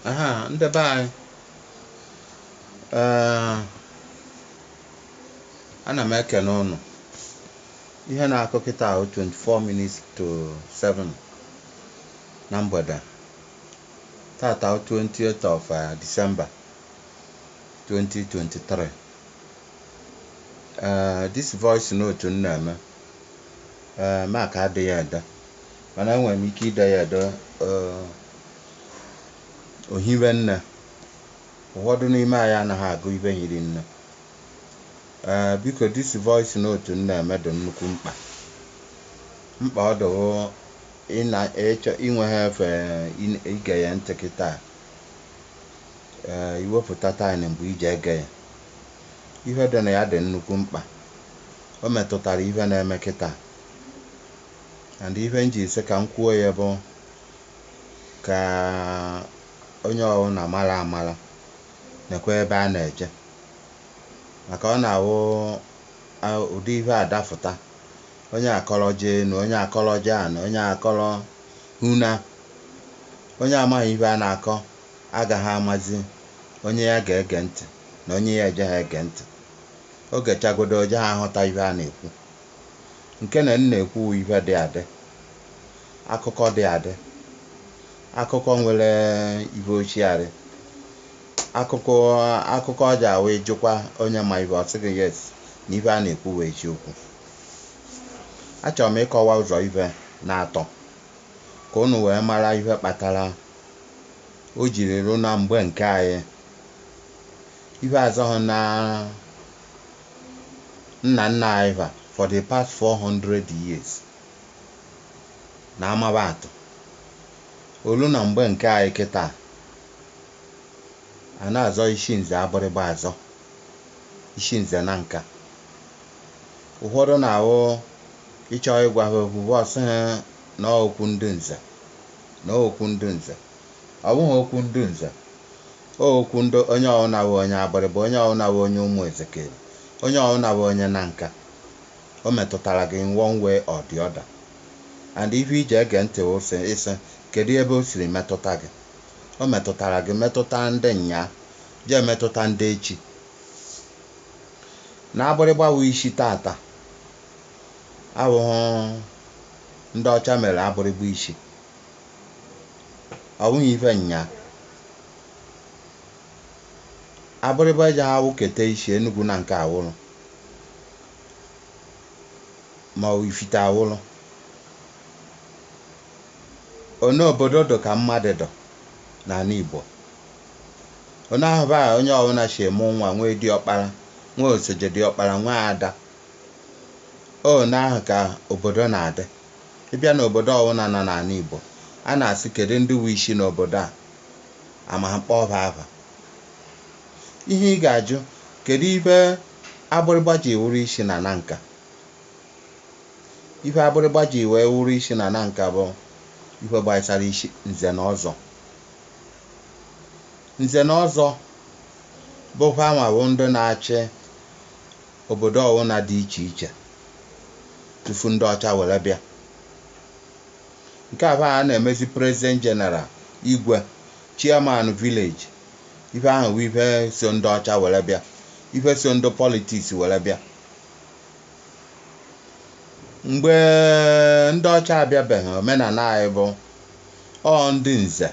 aha ndị be anyị ee ana m ekene ụnụ ihe na-akụ kịta wụ 24 minutes to 7 na mgbede tata wụ 28th of uh, December 2023 ee this voice note m na-eme ee maka ide ya ede Mana enwere m ike ide ya ede o hibe nne. Ụfọdụ n'ime anyị anaghị agụ ihe hiri nne. Ee, biko this voice note m na-eme dị nnukwu mkpa. Mkpa ọ dị bụ i nweghị efe ige ya ntị kịta a. Ee, i wepụta time mgbe i ji ege ya. Ihe dị na ya dị nnukwu mkpa. O metụtara ihe na-eme kịta. And ihe m ji sị ka m kwuo ya bụ ka onye ọwụna mara amara nekwa ebe a na-eje maka ọ na-awụ ụdị ihe a dafụta onye akọrọ jee enu onye akọrọ jee ana onye akọrọ huna onye amaghị ihe a na-akọ agaghị amazi onye ya ga-ege ntị na onye ya ejeghị ege ntị o gechagodo o jeghị aghọta ihe a na-ekwu nke na m na-ekwu ihe dị adị, akụkọ dị adị, akụkọ nwere ihe osiarị, akụkọ ọ ja-awụ ị jụkwa onye ma ihe, ọ sị gị yes na ihe a na-ekwu wụ eziokwu. Achọrọ m ịkọwa ụzọ ihe na-atọ ka unu wee mara ihe kpatara o jiri ruo na mgbe nke anyị ihe azọghị na nna nna anyị ha for the past four hundred years na amaba atụ. O luo na mgbe nke anyị kịta a na-azọ isi nze Agbiligba azọ, isi nze Nanka. Ụfọdụ na-awụ ị chọọ ịgwa ha okwu ha ọ sị ha na okwu ndị nze na ọ wụ okwu ndị nze. Ọ bụghị okwu ndị nze. Ọ okwu ndị onye ọwụna bụ onye Agbiligba, onye ọwụna bụ onye Ụmụ Ezekeri, onye ọwụna bụ onye Nanka, o metụtara gị in one way or the other. And ihe i ji ege ntị wụ sị ị sị kedụ ebe o siri metụta gị. O metụtara gị, metụta ndị nnyaa, jee metụta ndị echi. Na Agbiligba wụ isi taata awụghụ ndị ọcha mere Agbiligba isi. ọ bụghị ife nya Agbịrịgba eji ha wụketa isi Enugu Nanka awụrụ ma ọ bụ ifite awụrụ one obodo dụ ka mmadụ dụ n'ala Igbo one ahụ bụ onye ọbụla si amụ nwa nwee diọkpara nwee osoje diọkpara nwee ada one ahụ ka obodo na-adị Ị bịa n'obodo ọwụna nọ n'ala Igbo, a na-asị kedụ ndị wụ isi n'obodo a, a ma kpọọ ha afa. Ihe ị ga-ajụ, kedụ ife agbịrịgba ji wụrụ isi na Nanka? Ife agbịrịgba ji wee wụrụ isi na Nanka bụ ife gbasara isi Nze na Ọzọ. Nze na Ọzọ bụ fanwa bụ ndị na-achị Obodo ọwụna dị iche iche tufu ndị ọcha were bịa. Nke ahụ a na-emezi President General, Igwe, Chairman Village, ife ahụ bụ ife so ndị ọcha were bịa, ife so ndị politics were bịa. Mgbe ndị ọcha abịabeghị, omenala anyị bụ ọ ndị nze,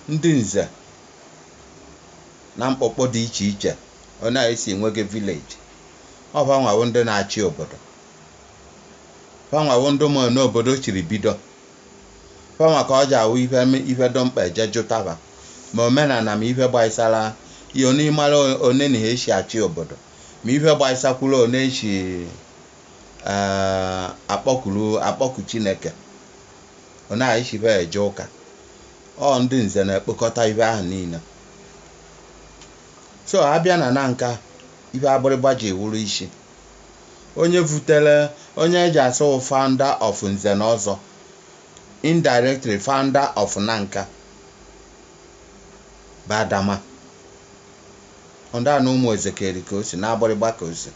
ndị nze na mkpọkpọ dị iche iche. one esi nwega village ọ fanwa wụ ndị na-achị obodo fanwa wụ ndị ma one obodo chiri bido fanwa ka ọ ji awụ ife m- ife dị mkpa eje jụtaba ma omenala ma ife gbaisara ya onye ịmara one na ha esi achị obodo ma ife gbaisakwuru one esi eh, akpọkuru akpọku chineke one esi be eje ụka ọ ndị nze na-ekpokọta ife ahụ niile so a bịa na Nanka ife agbịrịgba ji wụrụ isi onye vutere onye eji asụ founder of nze na ọzọ indirectly founder of Nanka bụ adama ọnda na ụmụ ezekeri ka o si na agbịrịgba ka o si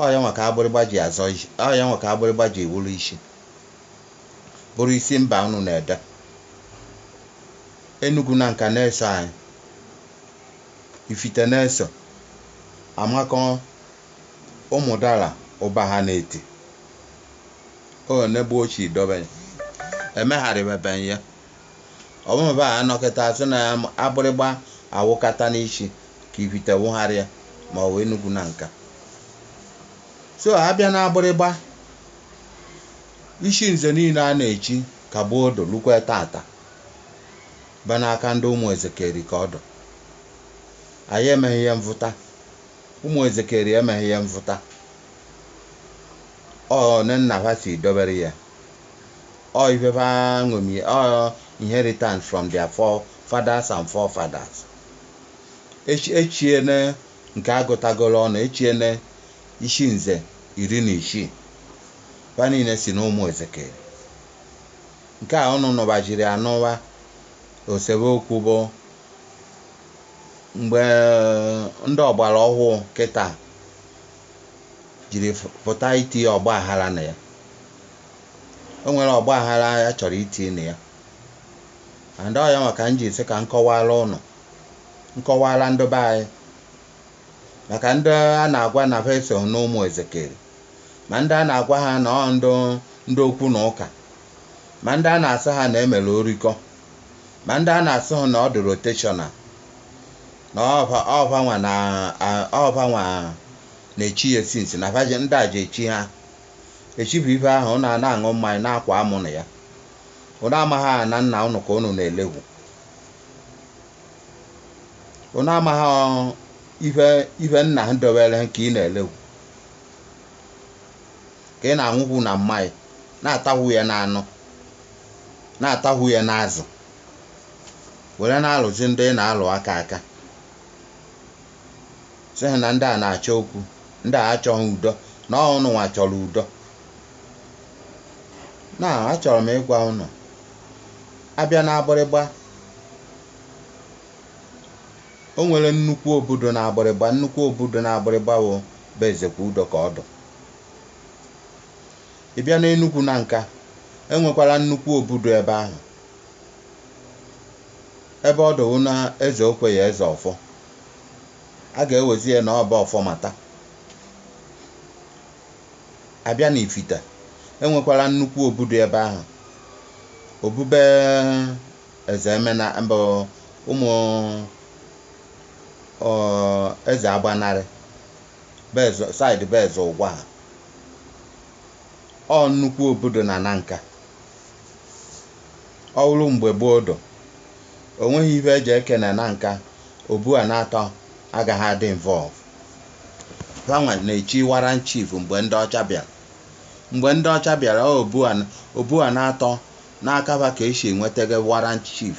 ọ ya nwa ka agbịrịgba ji azọ isi ọ ya nwa ka agbịrịgba ji wụrụ isi bụrụ isi mba unu na-ede Enugu Nanka na-eso anyị. Ifite na-eso. Amakọ Ụmụdala Ụbahụ na Eti. One gboo si dobe ya. Emegharịbebeghị ya. Ọ bụ mba a nọkata asị na Agbịrịgba awụkata n'isi ka ifite wụgharịa ma ọ bụ Enugu Nanka. So a bịa n'Agbịrịgba, isi nze niile a na-echi ka bụ odo lukwe tata. ba n'aka ndị ụmụ Ezekeri ka ọ dụ. Anyị emeghị ihe mvụta. Ụmụ Ezekeri emeghị ihe mvụta. Ọ ne nna ha si dobere ya. Ọ ife ha ṅomi, ọ inheritance from their forefathers and forefathers. Echi- Echiene nke agụtagoro ọnụ, echiene isi nze iri na isii. Ba niile si n'ụmụ Ezekeri. Nke a ụnụ nụbajiri anụwa o sebe okwu bụ mgbe ndị ọgbara ọhụụ kịta jiri pụta iti ọgbaghara na ya. O nwere ọgbaghara a chọrọ iti na ya and ọ yanwa ka m ji sị ka m kọwaara ụnụ, m kọwaara ndị be anyị maka ndị a na-agwa na ha esoghị n'ụmụ Ezekeri. ma ndị a na-agwa ha na ọ ndị okwu na ụka ma ndị a na-asị ha na emere orikọ ma ndị a na-asị ha na ọ dị rotational na ọ va ọ vanwa na a- ọ vanwa na-echi ya since na vaje ndị a ji echi ha echi bụ ife ahụ ụnụ na-aṅụ mmanya na-akwa amụ na ya ụnụ amaghị na nna ụnụ ka ụnụ na-elewu ụnụ amaghị ife nna ha dobere ka ị na-elewu ka ị na-aṅụhụ na mmanya na-atahụ ya n'anụ na-atahụ ya n'azụ were na-alụzi ndị ị na-alụ aka aka sị ha na ndị a na-achọ okwu ndị a achọghị udo na ọ ụnụ nwa chọrọ udo na achọrọ m ịgwa ụnụ abịa na Agbiligba O nwere nnukwu obu dụ na Agbiligba. Nnukwu obu dụ na Agbiligba bụ be Ezekwudo ka ọ dụ. Ị bịa n'Enugwu Nanka, e nwekwara nnukwu obu dụ ebe ahụ. Ebe ọ dụ wụ na Eze Okweyi Eze Ọfọ. A ga-ewezi ya na ọ be Ọfọmata. A bịa n'Ifite, e nwekwara nnukwu obu dụ ebe ahụ. Obu be Eze Emena mbụ ụmụ ọ, Eze Agbanarị side be Eze Ụgwaha ọ nnukwu obu dụ na Nanka ọ wụrụ mgbe gboo dụ o nweghị ife eji eke na Nanka obu a naatọ agaghị adị involve fanwa na-echi warrant chief mgbe ndị ọcha bịara mgbe ndị ọcha bịara ọ obu a obu a naatọ N'aka fa ka e si nwetege warrant chief,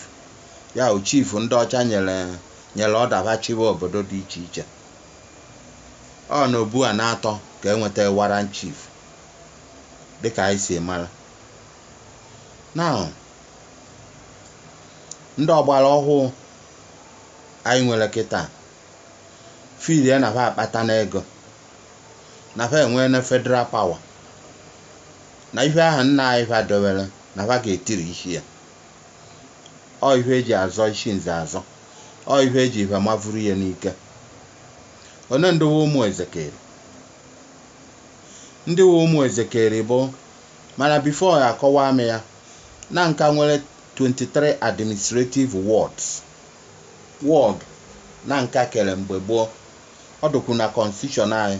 ya bụ chief ndị ọcha nyere order fa chịba obodo dị iche iche. Ọ n'obu a na-atọ ka e nwetege warrant chief dị ka anyị si mara. Now, ndị ọgbara ọhụụ anyị nwere kịta feelie na fa akpatana ego, na fa enweene federal power. na ihe ahụ nna anyị ha dowere na ha ga-etirisi ya ọ ihe eji azọ isi nze azọ ọ ihe eji ihe mavuru ya n'ike one ndị wụ ụmụ ezekeri ndị wụ ụmụ ezekeri bụ mana before ya akọwa m ya Nanka nwere 23 administrative wards ward Nanka kere mgbe gboo ọ dụkwu na constitution anyị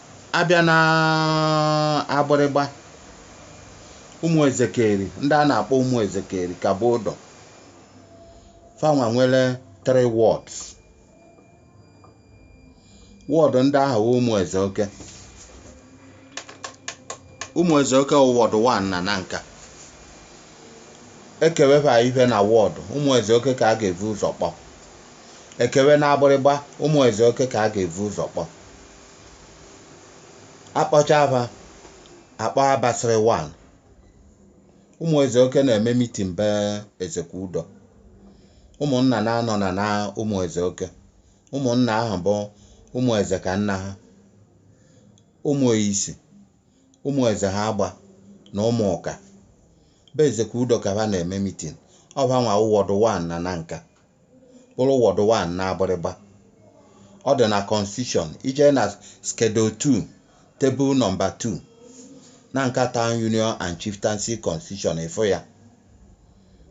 Abịa na Agbiligba, ụmụ Ezekeri, ndị a na-akpọ ụmụ Ezekeri ka bụ ụdụ. Fanwa nwere three wards. Ward ndị ahụ wụ ụmụ eze oke. Ụmụ eze oke wụ ward 1 na Nanka. Ekewefa ife na ward, ụmụ eze oke ka a ga-evu ụzọ kpọ. Ekewe na Agbiligba, ụmụ eze oke ka a ga-evu ụzọ kpọ. akpọchaa fa akpọ abasịrị 1 ụmụ eze oke na-eme mitin be ezekwudo ụmụnna na-anọ nọ na ụmụ eze oke ụmụnna ahụ bụ ụmụ eze ka nna ha ụmụ isi ụmụ eze ha agba na ụmụ ụka be ezekwudo ka ha na-eme mitin ọ fanwa wụ ward 1 na Nanka bụrụ ward 1 n'Agbiligba. Ọ dị na Constitution, ije na Schedule 2, Table Number 2, Nanka Town Union and Chieftaincy Constitution ịfụ ya.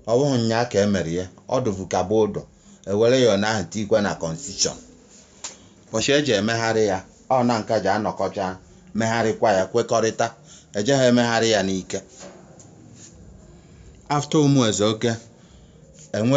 Ọ bụghị nnyaa ka e mere ya, ọ dụvu ka bụ ụdụ, e were ya ụnyaahụ ahụ tikwe na Constitution. Ụbọchị e ji emegharị ya, ọ Nanka ji anọkọcha megharịkwa ya kwekọrịta, e jeghị emegharị ya n'ike. After Ụmụeze Oke, enwe